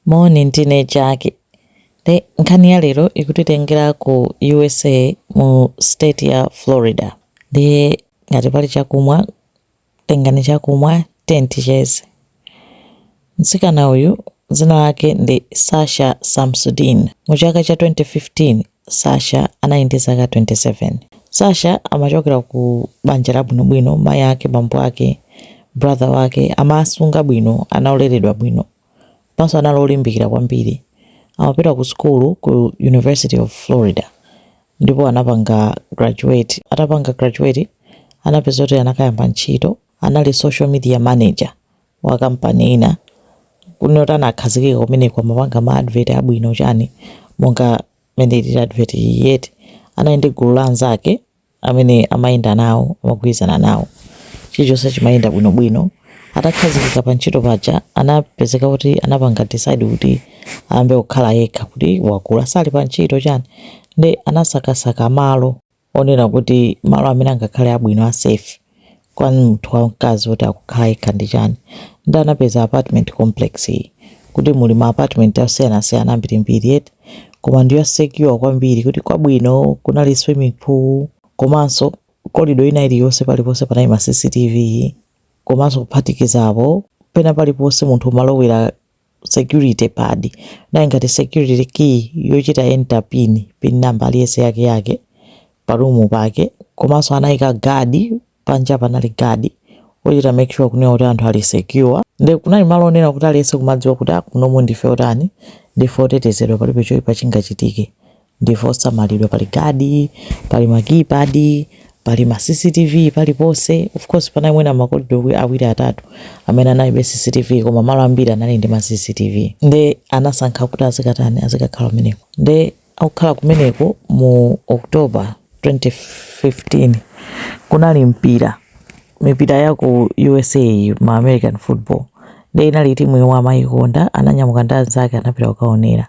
Moni, ndine Jack. Nde nkhani ya lero ikutitengera ku usa mu state ya Florida. Ndiye ngati pali chakumwa, tengani chakumwa tiyeni ticheze. Mtsikana uyu dzina lake ndi Sasha Samsudean. Mu chaka cha 2015, Sasha anali ndi zaka 27. Sasha amachokera ku banja labwinobwino, mayi ake, bambo ake, brother wake amawasunga bwino, ana oleredwa bwino. Komanso anali olimbikira kwambiri. Amapita ku sukulu ku University of Florida ndipo anapanga graduate. Atapanga graduate anapeza kuti anakayamba ntchito, anali social media manager wa kampani ina. Kunena kuti anakhazikika kumeneko amapanga ma advert abwino chani monga mmene ilili advert iyi eti. Anali ndi gulu la anzake amene amayenda nawo, amagwirizana nawo, chilichonse chimayenda bwinobwino. Atakhazikika pa ntchito paja anapezeka kuti anapanga decide kuti ayambe kukhala yekha kuti wakula ali pa ntchito chani nde anasakasaka malo onena kuti malo amene angakhale abwino a safe kwa munthu wamkazi oti akukhala yekha ndi chani nde anapeza apartment complex iyi kuti muli ma apartment asiyanasiyana ambirimbiri eti koma ndi ya secure kwambiri kuti kwabwino kunali swimming pool komanso kolido ina iliyonse paliponse panali ma cctv komanso kuphatikizapo pena paliponse munthu umalowera security pad inali ngati security key yochita enter pin pin number aliyese yake yake pa room pake komanso anayika guard panja panali guard ochita make sure kunena kuti anthu ali secure nde kunali malo onena kuti aliyese kumadziwa kuti kunomu ah, ndife otani ndife otetezedwa palibe choyipa chingachitike ndife osamalidwa pali guard pali ma keypad pali ma cctv paliponse of course panali mwina makolido awiri atatu amene analibe cctv koma malo ambiri anali ndi ma cctv nde anasankha kuti azikatani azikakhala kumeneko nde akukhala kumeneko mu october 2015 kunali mpira mipira ya ku usa ma american football nde inali timu yomwe amayikonda ananyamuka ndi anzake anapita kukaonera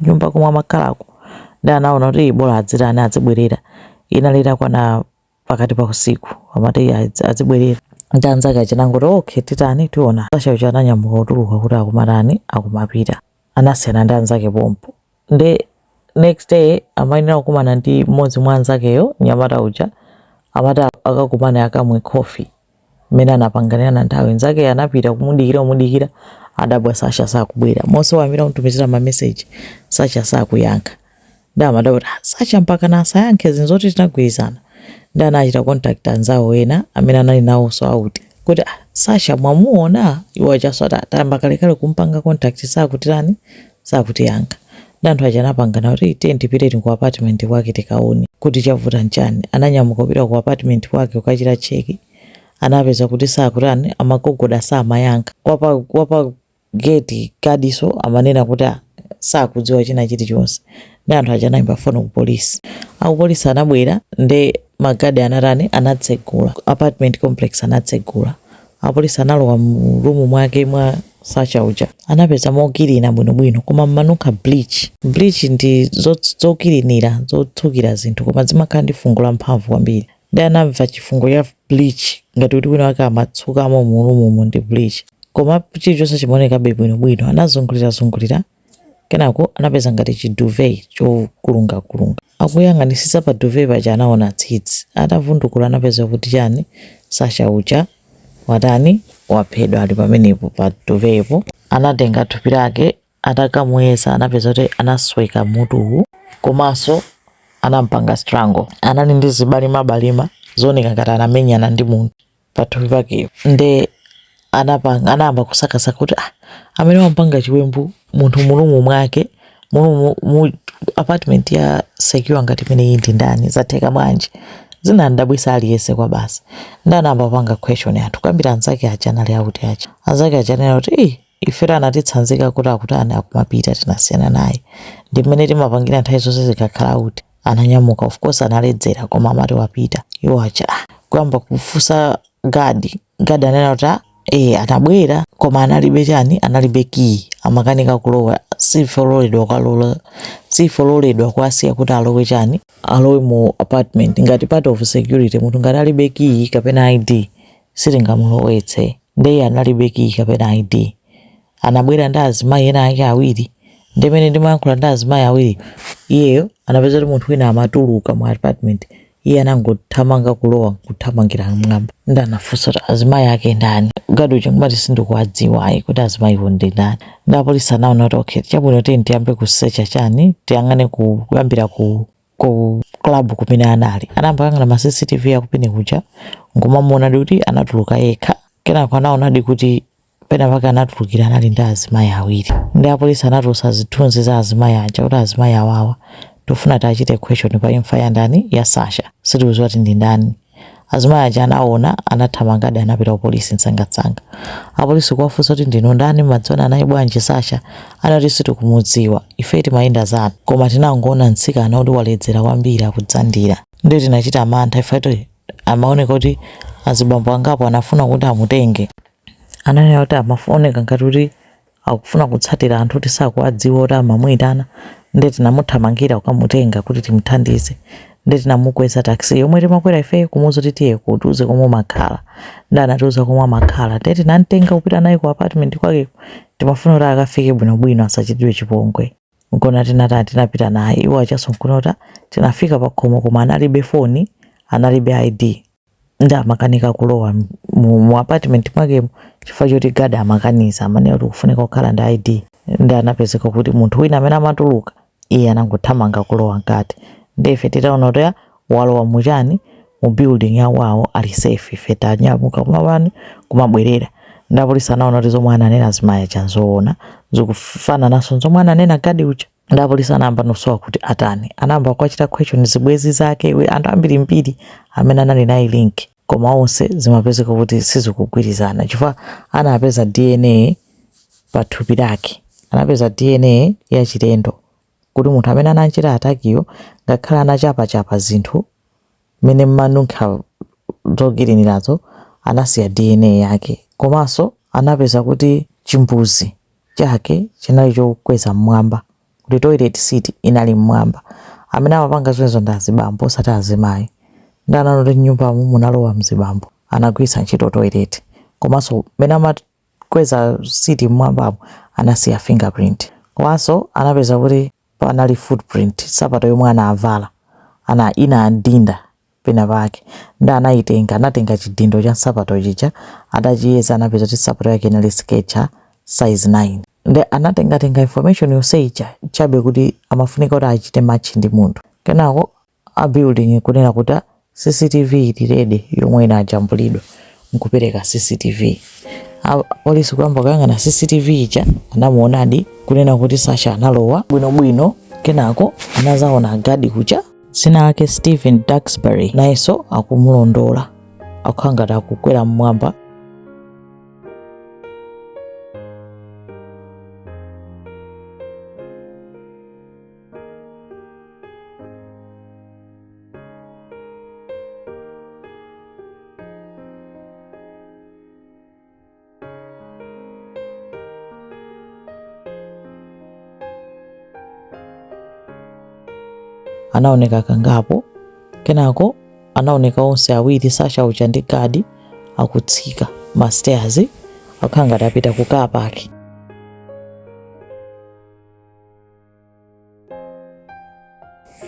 nyumba komwe amakhalako ndi anaona kuti "Ii, bola adzitani adzibwerera inali itakwana pakati pa usiku amati "Ii, adzi- adzibwerera ndi anzake aja anangoti okay titani tiona Sasha uja ananyamuka kutuluka kuti akumatani akumapita anasiyana ndi anzake pompo nde next day amayenera kukumana ndi mmodzi mwa anzakeyo nyamata uja amati akakumane akamwe coffee mmene anapanganirana nthawi nzake anapita kumudikira kumudikira adabwa sasha sakubwera monse wayimbira kumtumizira mameseji sasha sakuyankha ndi amadabwa kuti "Ah, sasha mpaka na asayankhe zinthu zoti tinagwirizana ndi anachita contact anzawo ena amene anali nawonso out kuti "Ah, sasha mwamuona iwo achanso ati tayamba kalekale kumpanga contact sakutirani sakutiyankha nde anthu aja anapangana kuti tiyeni tipitedi ku apartment kwake tikaone kuti chavuta nchani ananyamuka kupita ku apartment kwake kukachita check anapeza kuti sakutani amagogoda samayankha wapa, wapa gate gadinso amanena kuti ah, sakudziwa china chilichonse ndi anthu aja anayimba foni ku polisi akupolisi anabwera nde magadi anatani anatsegula apartment complex anatsegula Apolisi analowa mu room mwake mwa Sasha uja. Anapeza mokilina bwinobwino koma m'manunkha bleach. Bleach ndi zokilinira zotsukira zinthu koma zimakhala ndi fungo lamphamvu kwambiri. Ndiye anamva chifungo cha bleach ngati kuti wina wake amatsukamo mu room mo ndi bleach. Koma chilichonse chimaonekabe bwinobwino. Anazungulirazungulira Kenako anapeza ngati chi duvet chokulungakulunga. Akuyang'anisitsa pa duvet paja anaona tsitsi. Atavundukula anapeza kuti chani Sasha uja watani waphedwa ali pamenepo pa duvet po. Anatenga thupi lake atakamuyeza anapeza kuti anasweka mutuwu komanso anamupanga strangle. Anali ndi zibalimabalima zooneka ngati anamenyana ndi munthu. Pathupi pake nde anapanga anayamba kusakasaka kuti ah, amene wampanga chiwembu munthu mu room mwake mu room mu apartment ya secure ngati imeneyi ndi ndani zatheka bwanji zinadabwisa aliyense kwa basi nde anayamba kupanga question anthu kuyambira anzake aja anali out aja anzake aja anena kuti eh ife anatitsanzika kuti akutani akupita tinasiyana naye ndi mmene timapangira nthawi zonse tikakhala out ananyamuka of course analedzera koma amati wapita iwo acha ah, kuyamba kufunsa gadi gadi anena kuti ah, eh anabwera koma analibe chani analibe kiyi amakanika kulowa sitiloledwa kuwalola sitiloledwa kuwasiya kuti alowe chani alowe mu apartment ngati part of security munthu ngati alibe kiyi kapena id sitingamulowetse nde iye analibe kiyi kapena id anabwera ndi azimayi ena ake awiri ndimene ndimawayankhula ndi azimayi awiri iyeyo anapeza kuti munthu wina amatuluka mu apartment iye anangothamanga kulowa kuthamangira mwamba ndi anafunsa kuti azimayi ake ndani gadi uja nkumati sindikuwadziwa ayi kuti azimayiwo ndi ndani ndi apolisi anaona kuti okay chabwino tiyeni tiyambe kusecha chani tiyang'ane kuyambira ku ku club kumene anali anayamba kuyang'ana ma cctv aku bar kuja nkumamuonadi kuti anatuluka yekha kenako anaonadi kuti penapake anatulukira anali ndi azimayi awiri ndi apolisi anatulutsa zithunzi za azimayi aja kuti azimayi awawa tofuna tiwachite question pa imfa ya ndani ya sasha sitikudziwa kuti ndi ndani azimayi aja anaona anathamangadi anapita kupolisi msangamsanga apolisi kuwafunsa kuti ndinu ndani mudziwana naye bwanji sasha anati sitikumudziwa ife timayenda zathu koma tinangoona mtsikana kuti waledzera kwambiri akudzandira ndiye tinachita mantha ife amaoneka kuti azibambo angapo anafuna kuti amutenge ananena kuti amaoneka ngati kuti akufuna kutsatira anthu kuti sakuwadziwa kuti amamuyitana ndiye tinamuthamangira kukamutenga kuti timuthandize ndiye tinamukweza taxi yomwe timakwera ife kumuuza kuti tiye utiuze komwe umakhala ndiye anatiuza komwe amakhala ndiye tinamtenga kupita naye ku apartment kwakeko timafuna kuti akafike bwinobwino asachitidwe chipongwe nkona tinatani tinapita naye iwo achaso nkona kuti tinafika pakhomo koma analibe foni analibe id nde amakanika kulowa m- mu, mu apartment mwakemo chifukwa choti gadi amakaniza amanena kuti kufunika kukhala ndi id nde anapezeka kuti munthu wina amene amatuluka iye anangothamanga kulowa mkati nde ife titaona kuti "Ah, walowa muchani mu building yawawo ali safe ife tinanyamuka kumapani kumabwerera nde apolisi anaona kuti zomwe ananena azimayi aja nzoona zikufanananso nzomwe ananena gadi uja ndi apolisi anayamba no sowa kuti atani anayamba kuwachita question zibwezi zake we- anthu ambirimbiri amene anali naye link koma onse zimapezeka kuti sizikugwirizana chifukwa anapeza dna pa thupi lake anapeza dna yachilendo kuti munthu amene anachita atakiyo ngakhale anachapachapa zinthu mmene mmanunkha zokilinirazo anasiya dna yake komanso anapeza kuti chimbudzi chake chinali chokweza mmwamba kuti toilet seat inali mmwamba amene amapanga zimenezo ndi azibambo osati azimayi nde anaona kuti mnyumbamo munalowa mzibambo anagwiritsa ntchito toilet komanso mmene amakweza siti mmwambamo anasiya fingerprint komanso anapeza kuti panali footprint nsapato yomwe anavala inadinda pena pake ndi anayitenga anatenga chidindo cha nsapato chija adachiyeza anapeza kuti nsapato yake inali skechers size 9 ndi anatengatenga information yonse ija chabe kuti amafunika kuti achite match ndi munthu kenako a building kunena kuti ah, CCTV ili ready yomwe inajambulidwa nkupereka CCTV. A- Polisi kuyamba kuyang'ana CCTV ija anamuonadi kunena kuti Sasha analowa bwinobwino kenako anazaona gadi uja dzina lake Stephen Duxbury nayenso akumulondola akukhala ngati akukwera mmwamba anaoneka kangapo kenako anaoneka onse awiri sasha uja ndi gadi akutsika mastairs akhala ngati apita ku car park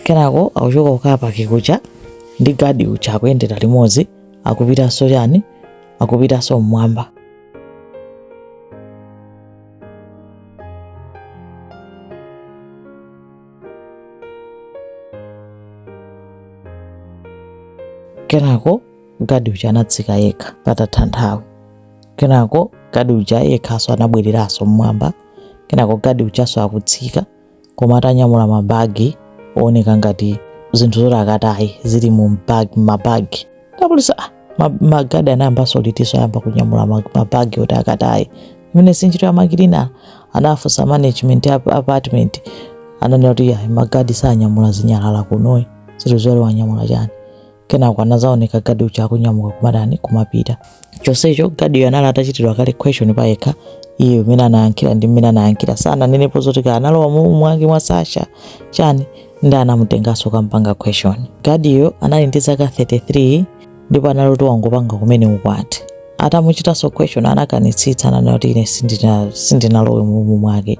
kenako akuchoka ku car park kuja ndi gadi uja akuyendera limodzi akupitanso chani akupitanso mmwamba kenako gadi uja anatsika yekha patatha nthawi kenako gadi uja yekhanso anabwereranso mmwamba kenako gadi ujanso akutsika koma atanyamula mabagi ooneka ngati zinthu zoti akataye zili mu mbag- mabagi nde apolisi ah, ma- magadi anayambanso litiso ayamba kunyamula ma- mabagi oti akataye imene sinchito ya makilina anafunsa management ya ap- apartment ananena kuti "Ayi, magadi sanyamula zinyalala kunoyi zinthu zoti wanyamula chani kenako anadzaoneka gadi uja akunyamuka kumatani kumapita chonsecho gadiyo anali atachitidwa kale question pa yekha iye mmene anayankhira ndi mmene anayankhira sananenepo zoti analowa mu mwake mwa sasha chani ndi anamutenganso kukampanga question gadiyo anali ndi zaka 33 ndipo anali kuti wangopanga kumene ukwati atamuchitanso question anakanitsitsa ananena kuti ine sindina- sindinalowe mu rumu mwake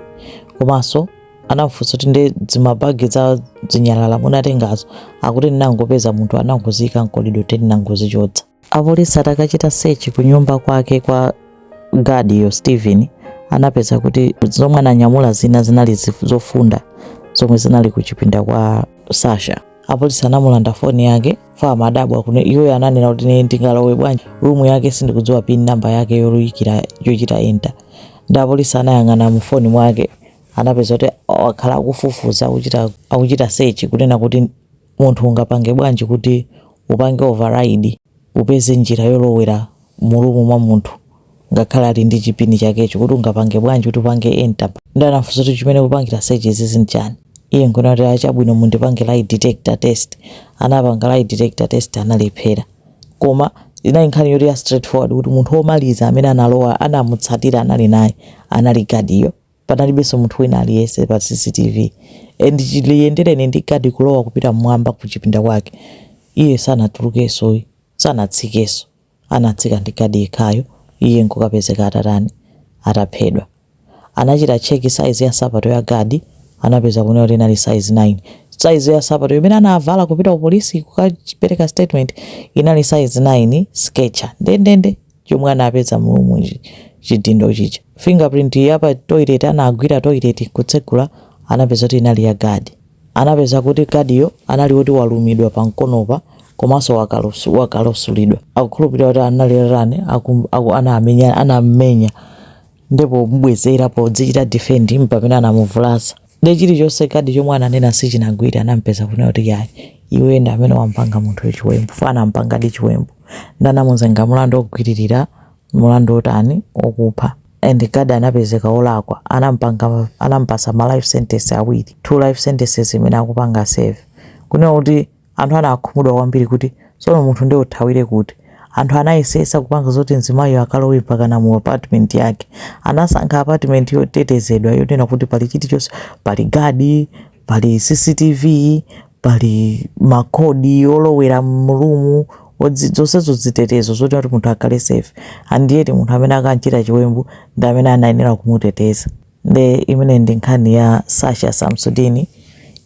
komanso anamfunsa kuti ndi dzimabagi dza dzinyalala munatengazo akuti ndinangopeza munthu anangoziyika mkolido nde ndinangozichotsa apolisi atakachita sechi ku nyumba kwake kwa gadiyo stephen anapeza kuti zomwe ananyamula zina zinali zif- zofunda zomwe zinali kuchipinda kwa sasha apolisi anamulanda foni yake chifukwa amadabwa kuti iyeyo ananena kuti ine ndingalowe bwanji rumu yake sindikudziwa pin namba yake yoluyikira yochita enta ndi apolisi anayang'ana mu foni mwake anapeza kuti wakhala akufufuza akuchita, akuchita search kunena kuti munthu ungapange bwanji kuti upange override upeze njira yolowera mu rumu mwa munthu ngakhale ali ndi chipini chakecho kuti ungapange bwanji kuti upange enter ndi anafunsa kuti chimene ukupangira search izizi nchani iye nkunena kuti a chabwino mundipange lie detector test anapanga lie detector test analephera koma inali nkhani yoti ya straightforward kuti munthu womaliza amene analowa anamutsatira anali naye anali gadiyo panalibenso munthu wina aliyense pa cctv and chiliyendereni ndi gadi kulowa kupita mmwamba ku chipinda kwake iye sanatulukenso uyu sanatsikenso anatsika ndi gadi yekhayo iye nkukapezeka atatani ataphedwa anachita check saizi ya nsapato ya gadi anapeza kunena kuti inali saizi 9 saizi ya nsapato imene anavala kupita ku polisi kukapereka statement inali saizi 9 sketcher ndendende chomwe anapeza mu room chidindo chija fingerprint ya pa toilet anagwira toilet kutsegula anapeza kuti inali ya gadi anapeza kuti gadiyo anali woti walumidwa pa mkonopa komanso wakalusu- wakalosulidwa akukhulupirira kuti anali rani anammenya ndipo mubwezera podzichita defend mpamene anamuvulaza Ndiye chilichonse gadi chomwe ananena sichinagwire anamupeza kunena kuti yayi iwe ndi amene wampanga munthu chiwembu fo anampangadi chiwembu ndanamuzenga mulandu ogwiririra mulandu otani okupha and gadi anapezeka olakwa anampanga anampasa ma life sentence awiri two life sentences imene akupanga serve kunena kuti Anthu anakhumudwa kwambiri kuti, Tsono munthu nde uthawire kuti? Anthu anayeseyesa kupanga zoti mzimayiyo akalowe mpakana mu apartment yake. Anasankha apartment yotetezedwa yonena kuti pali chilichonse, pali guard, pali CCTV, pali ma code olowera mu room, odzi, zonsezo zitetezo zonena kuti munthu akhale safe. And yet munthu amene akanchita chiwembu ndi amene anayenera kumuteteza. Nde imeneyi ndi nkhani ya Sasha Samsudini.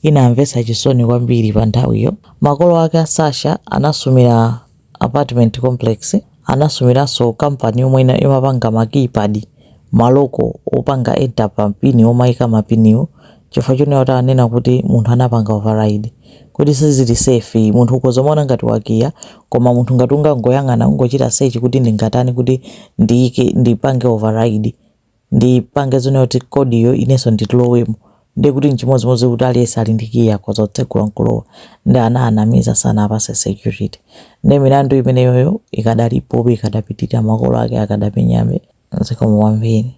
Inamvetsa chisoni kwambiri pa nthawiyo. Makolo ake a Sasha anasumira apartment complex. Anasumiranso kampani yomwe imapanga ma keypad, maloko opanga enter pa pin omaika mapiniwo chifukwa chonena kuti ananena kuti munthu anapanga override. Kuti sizili safe yi, munthu ukhoza kumaona ngati wakiya koma munthu ngati ungangoyang'ana, ungochita search kuti ndingatani kuti ndiike, ndipange override, ndipange zonena kuti kodiyo inenso ndilowemo ndiye kuti nchimodzimodzi kuti aliyense ali ndi kiyi akhoza kutsegula nkulowa nde anawanamiza sanawapase security ndi milandu imeneyoyo ikadalipobe ikadapitirira makolo ake akadamenyabe zikomo kwambiri